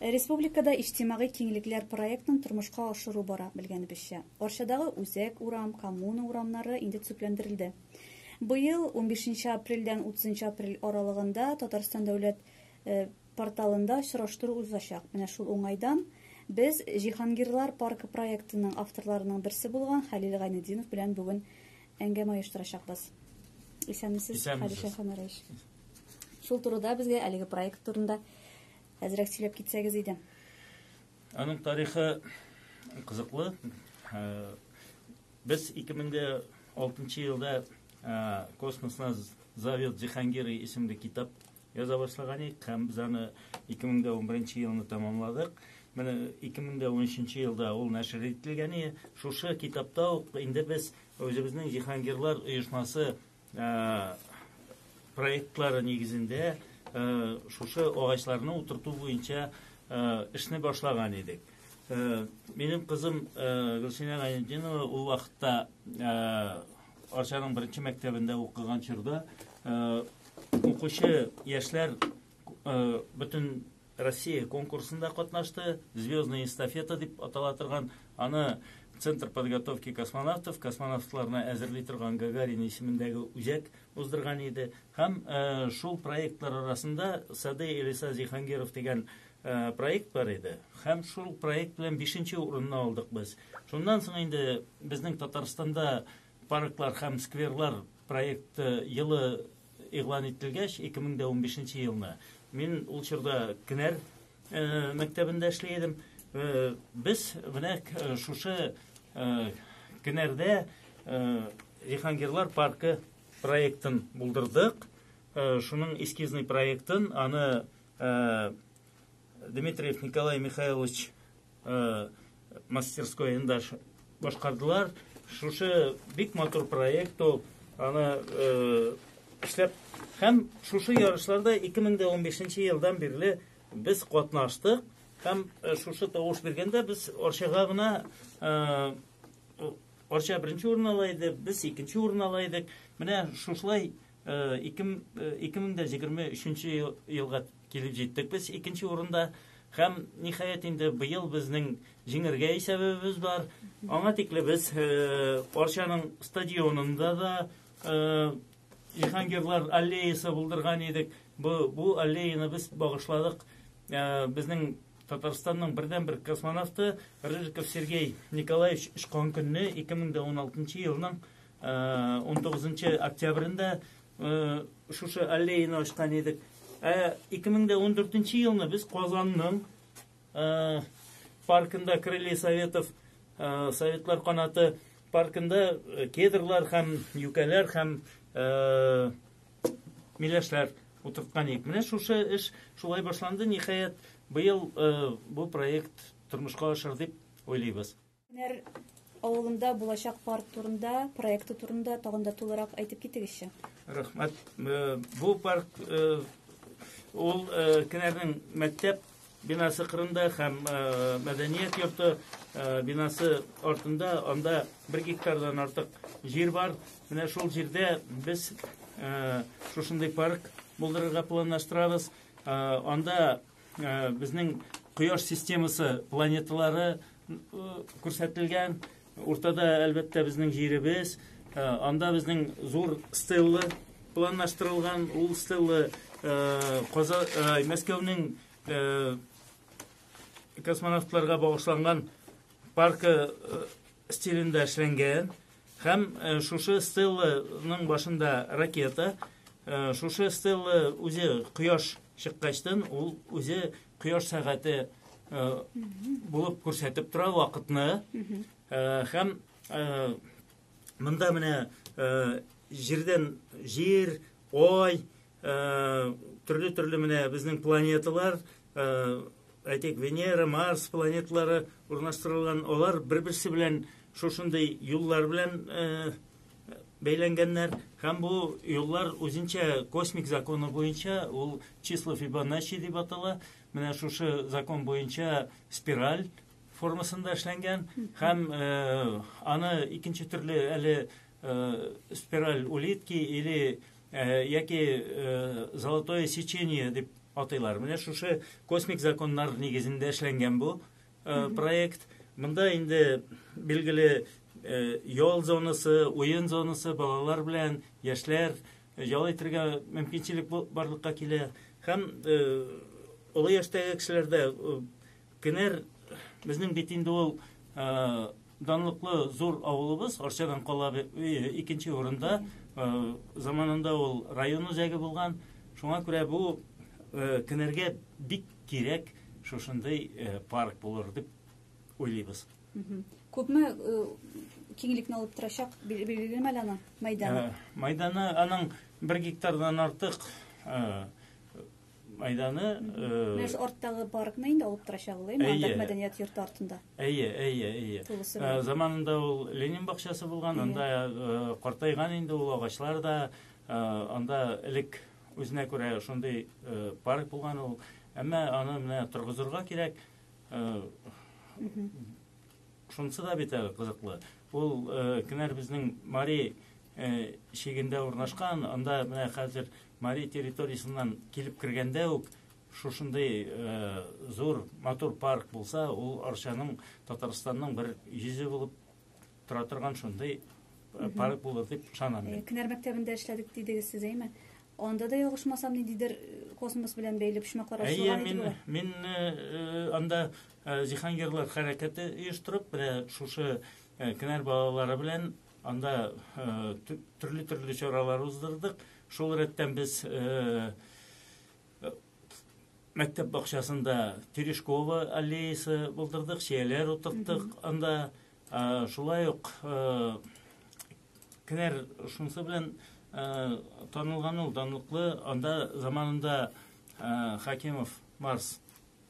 Республикада Иҗтимагый киңлекләр проектын тормышка ашыру бара, белгәнебезчә. Арчадагы Үзәк урам, Коммуна урамнары инде төзекләндерелде. Быел унбишенче апрельдән утызынчы апрель аралыгында Татарстан дәүләт порталында очраштыру узачак. Менә шул уңайдан без Җиһангирлар паркы проектының авторларының берсе булган Хәлил Гайнетдинов белән бүген әңгәмә оештырачакбыз. Исәнмесез, Хәлил Шәйханәрәевич. Шул турыда безгә әлеге проект турында Әзрәк сөйләп китсәгез иде. Аның тарихы кызыклы. Ә, Без 2006 елда ә, космосна зовет Зихангиры исемле китап яза башлаган идек һәм без аны 2011 елны тәмамладык. Менә 2013 елда ул нәшер ителгән иде. Шушы китапта ук инде без үзебезнең Зихангирлар оешмасы проектлары нигезендә шушы агачларны утырту буенча эшне башлаган идек. Минем кызым Гөлсинә Гайнетдинова ул вакытта Арчаның беренче мәктәбендә укыган чорда укучы яшьләр бөтен Россия конкурсында катнашты, Звездная эстафета дип атала торган, аны Центр подготовки космонавтов, космонавтларны әзерли торган Гагарин исемендәге үзәк уздырган иде. Һәм шул проектлар арасында Сады Элиса Зихангиров дигән проект бар иде. Һәм шул проект белән 5 урынны алдык без. Шуннан соң инде безнең Татарстанда Парклар һәм скверлар проекты елы игълан ителгәч, 2015 елны, мин ул чорда Кенәр мәктәбендә эшли идем. Без менә шушы Кенәрдә Җиһангирлар паркы проектын булдырдык. Шуның эскизный проектын, аны Дмитриев Николай Михайлович э, мастерскоенда башкардылар. Шушы бик матур проект ул. Аны э, эшләп һәм шушы ярышларда 2015 елдан бирле без катнаштык һәм э, шушы тавыш биргәндә без Орчага гына э, Орча беренче урын ала иде, без икенче урын ала идек. Менә шушылай Ике мең дә җигарме өченче елга килеп җиттек без икенче урында һәм ниһаять инде быел безнең җиңәргә исәбебез бар. Аңа тикле без Арчаның стадионында да Җиһангирлар аллеясы булдырган идек. Бу бу аллеяны без багышладык безнең Татарстанның бердәнбер космонавты Рыжиков Сергей Николаевич очкан көнне 2016 елның 19 э, октябрендә э, шушы аллеяны ачкан идек. Ә 2014 елны без Казанның э, паркында Крылья Советов Советлар канаты паркында кедрлар һәм юкәләр һәм миләшләр утырткан идек. Менә шушы эш шулай башланды. Ниһаять, быел бу проект тормышка ашыр дип уйлыйбыз. Һөнәр авылында булачак парк турында, проекты турында тагын да тулырак әйтеп китегезче. Рәхмәт. Э, бу парк э, ул э, Кенәрнең мәктәп бинасы кырында һәм мәдәният йорты бинасы артында анда бер гектардан артык җир бар. Менә шул җирдә без шушындый парк булдырырга планлаштырабыз. Анда Э, безнең кояш системасы планеталары э, күрсәтелгән уртада әлбәттә безнең җиребез э, анда безнең зур стелла планлаштырылган ул стелла каза мәскәүнең космонавтларга багышланган паркы стилендә эшләнгән һәм шушы стелланың башында ракета шушы стелла үзе кояш чыккачтан ул үзе кояш сәгате булып күрсәтеп тора вакытны һәм монда менә җирдән җир ой төрле-төрле менә безнең планеталар, әйтик, Венера, Марс планеталары урнаштырылган, алар бер-берсе белән шушындый юллар белән бәйләнгәннәр. Һәм бу юллар үзенчә космик законы буенча ул число Фибоначчи дип атала. Менә шушы закон буенча спираль формасында эшләнгән һәм э, аны икенче төрле әле э, спираль улитки или Э, яки э, золотое сечение дип атыйлар. Менә шушы космик законнар нигезендә эшләнгән бу э, проект. Монда инде билгеле ял зонасы, уен зонасы балалар белән яшьләр ял итәргә мөмкинчелек барлыкка килә. Һәм олы яшьтәге кешеләрдә кенәр безнең бит инде ул Данлыклы зур авылыбыз Арчадан кала икенче урында. Заманында ул район үзәге булган. Шуңа күрә бу кенәргә бик кирәк шушындый парк булыр дип уйлыйбыз. Күпме киңлекне алып торачак, билгелеме әле аның мәйданы? Мәйданы аның бер гектардан артык. Майданы... Менә ш арттагы паркны инде алып торачак ул, әйе? Анда мәдәният йорты артында. Әйе, әйе, әйе. Ә, заманында ул Ленин бакчасы булган, анда э, картайган инде ул агачлар да, э, анда элек үзенә күрә шундый э, парк булган ул. Әмма аны менә торгызырга кирәк. Шунысы да бит әле кызыклы. Ул э, кинәр безнең Мари э, чигендә урнашкан, анда менә хәзер Мари территориясеннән килеп кергәндә үк шушындый э, зур матур парк булса, ул Арчаның Татарстанның бер йөзе булып тора торган шундый э, парк булыр дип ышанам мин. Кинәр мәктәбендә эшләдек дидегез сез, әйме? Анда да ялгышмасам, ниндидер космос белән бәйле почмаклар ачылган иде. Әйе, мин мин анда Э, Җиһангирлар хәрәкәте оештырып, менә шушы э, Кенәр балалары белән анда э, төрле-төрле чаралар уздырдык. Шул рәттән без мәктәп бакчасында Терешкова аллеясы булдырдык, чияләр утырттык анда. Шулай ук Кенәр шунысы белән танылган ул данлыклы, анда заманында Хакимов Марс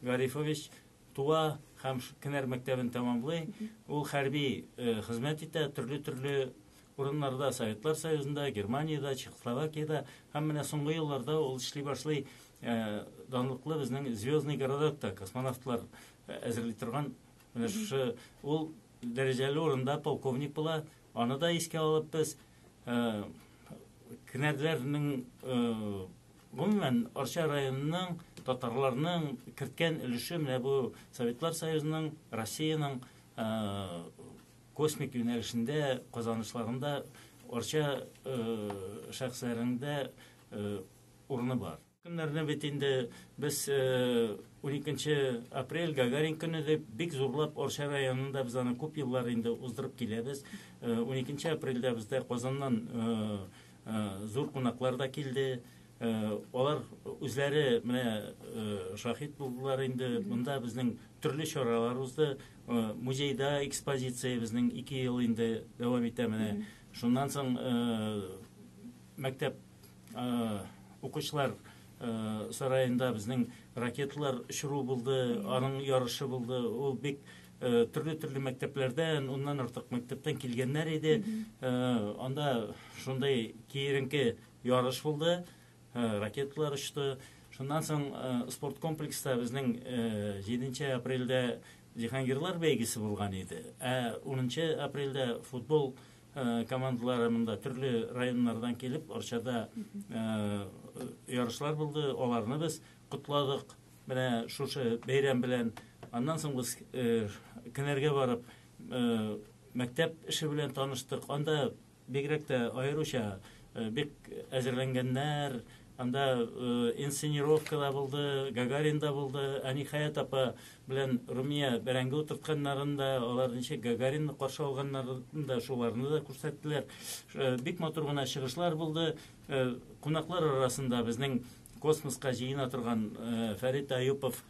Гарифович туа һәм Кенәр мәктәбен тәмамлый. Ул хәрби хезмәт итә, төрле-төрле урыннарда, Советлар Союзында, Германиядә, Чехословакиядә һәм менә соңгы елларда ул эшли башлый данлыклы безнең Звездный городокта космонавтлар әзерли торган менә шушы ул дәрәҗәле урында полковник була. Аны да искә алып без Кенәрләрнең Гомумән, Арча районының татарларның керткән өлеше менә бу Советлар Союзының, Россиянең э, космик юнәлешендә казанышларында Арча э, шәхесләрендә э, урыны бар. Көннәрне бит инде без 12 апрель Гагарин көне дип бик зурлап Арча районында без аны күп еллар инде уздырып киләбез. 12 апрельдә бездә Казаннан Зур кунаклар да килде. Алар үзләре менә шаһит булдылар инде. Монда безнең төрле чаралар узды. Музейда экспозиция безнең 2 ел инде дәвам итә менә. Шуннан соң мәктәп укучылар сараенда безнең ракеталар очыру булды, аның ярышы булды. Ул бик Э, төрле төрле мәктәпләрдән уннан артык мәктәптән килгәннәр иде э, анда шундый киеренке ярыш булды э, ракеталар очты шуннан соң спорт комплекста безнең җиденче апрельдә җиһангирлар бәйгесе булган иде ә унынчы апрельдә футбол командалары монда төрле районнардан килеп арчада ярышлар булды аларны без Котладык менә шушы бәйрәм белән. Аннан соң без Кенәргә барып, мәктәп эше белән таныштык. Анда бигрәк тә аеруча бик әзерләнгәннәр. Анда инсценировка да булды, Гагарин да булды. Ә Ниһаят апа белән Румия бәрәңге утыртканнарын да, алар ничек Гагаринны каршы алганнарын да, шуларны да күрсәттеләр. Бик матур гына чыгышлар булды. Кунаклар арасында безнең Космоска җыена торган Фәрит Аюпов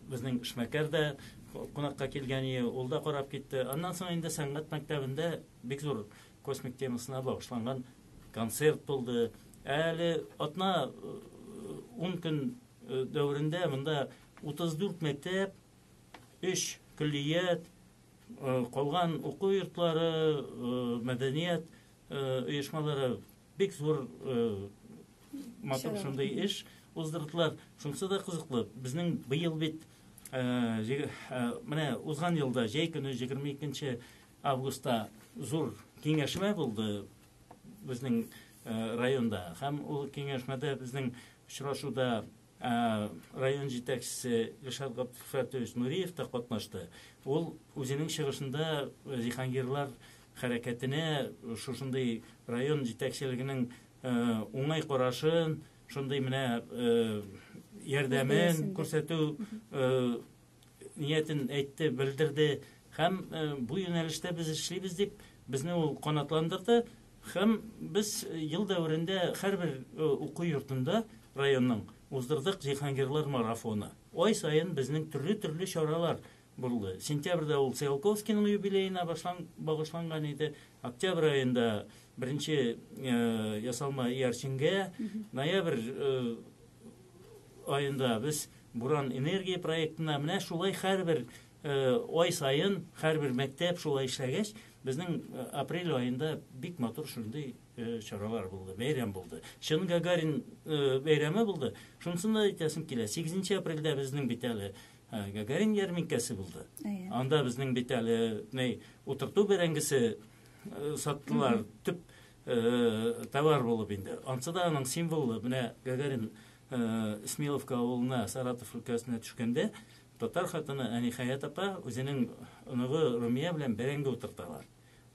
безнең эшмәкәр дә кунакка килгән иде, ул да карап китте. Аннан соң инде сәнгать мәктәбендә бик зур космик темасына багышланган концерт булды. Әле атна 10 көн дәверендә монда 34 мәктәп, 3 көллият, калган уку йортлары, мәдәният оешмалары Бик зур матур шундый эш уздырдылар. Шунысы да кызыклы. Безнең быел бит менә узган елда җәй көне 22 августта зур киңәшмә булды безнең районда. Һәм ул киңәшмәдә безнең очрашуда Ә район җитәкчесе Илшат Габдфәтович Нуриев та катнашты. Ул үзенең чыгышында җиһангирлар хәрәкәтенә шушындый район җитәкчелегенең уңай карашын, шундый менә ярдәмен күрсәтү ниятен әйтте, белдерде һәм э, бу юнәлештә без эшлибез дип безне ул канатландырды һәм без ел дәверендә һәрбер э, уку йортында районның уздырдык Җиһангирлар марафоны. Ай саен безнең төрле-төрле чаралар булды. Сентябрьдә ул Циолковскийның юбилеена багышланган иде. Октябрь аенда беренче э, ясалма иярченгә, ноябрь аенда без Буран энергия проектына менә шулай һәрбер ай саен һәрбер мәктәп шулай эшләгәч, безнең апрель аенда бик матур шундый чаралар булды, бәйрәм булды. Чын Гагарин бәйрәме булды. Шунысын да әйтәсем килә. 8 апрельдә безнең бит әле Гагарин ярминкәсе булды. Анда безнең бит әле утырту бәрәңгесе саттылар. Төп товар булып инде. Ансы да аның символы, менә Гагарин Смеловка авылына, Саратов өлкәсенә төшкәндә, татар хатыны Әнихәят апа үзенең оныгы Румия белән бәрәңге утырталар.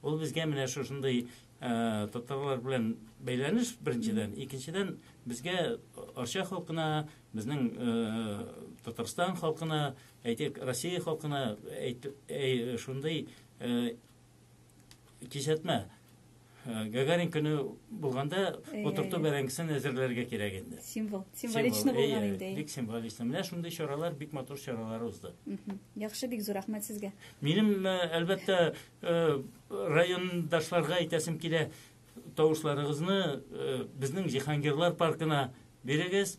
Ул безгә менә шушындый татарлар белән бәйләнеш беренчедән, икенчедән безгә Арча халкына, безнең Татарстан халкына, әйтик, Россия халкына әйт, әй, шундый Кисәтмә. Э, Гагарин көне булганда утырту бәрәңгесен әзерләргә кирәк инде. Символ. Символично булган инде. Бик символично. Менә шундый чаралар, бик матур чаралар узды. Яхшы, бик зур рәхмәт сезгә. Минем, э, әлбәттә, э, райондашларга әйтәсем килә, тавышларыгызны безнең Җиһангирлар паркына бирегез.